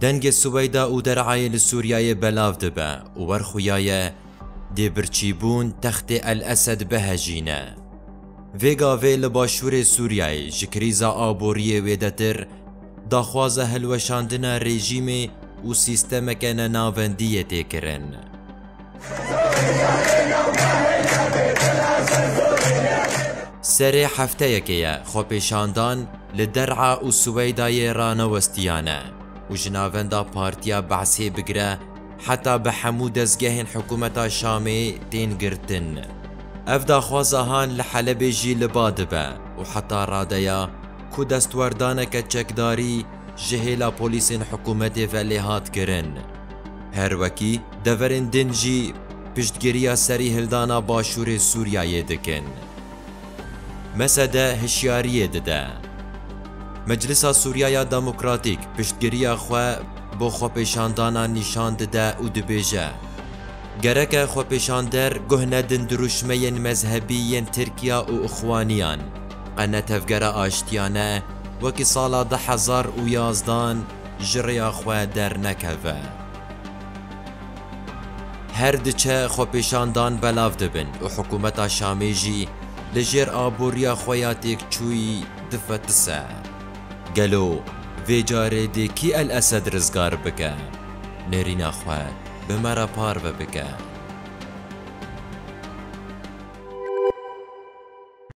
Dengê Suweyda û Der'ayê li Sûriyeyê belav dibe û wer xuya ye dê birçîbûn textê El Esed bihejîne. Vê gavê li başûrê Sûriyeyê ji krîza aboriyê wêdetir daxwaza hilweşandina rejîmê û sîstemeke nenavendiyê tê kirin. Serê hefteyekê ye xwepêşandan li Der'a û Siweydayê ranewestiyane û ji navenda Partiya Be'sê bigire heta bi hemû dezgehên hikûmeta Şamê tên girtin. Ev daxwaza han li Helebê jî li ba dibe û heta radeya ku destwerdaneke çekdarî ji hêla polîsên hikûmetê ve lê hat kirin. Her wekî deverên din jî piştgiriya serî hildana başûrê Sûriyeyê dikin. Mesede hişyariyê dide. Meclisa Sûriyaya Demokratîk piştgiriya xwe bo xwepêşandana nîşan dide û dibêje, Gereke xwepêşander guh nedin dirûşmeyên mezhebî yên Tirkiya û Ixwaniyan. Qene tevgera aştiyane wekî sala du hezar û yazdan ji rêya xwe dernekeve. Her diçe xwepêşandan belav dibin û hikûmeta Şamê jî li jêr aboriya xwe ya têkçûyî difetise. Gelo vê carê dê kî El Esed rizgar bike, nêrîna xwe bi me re parve bike?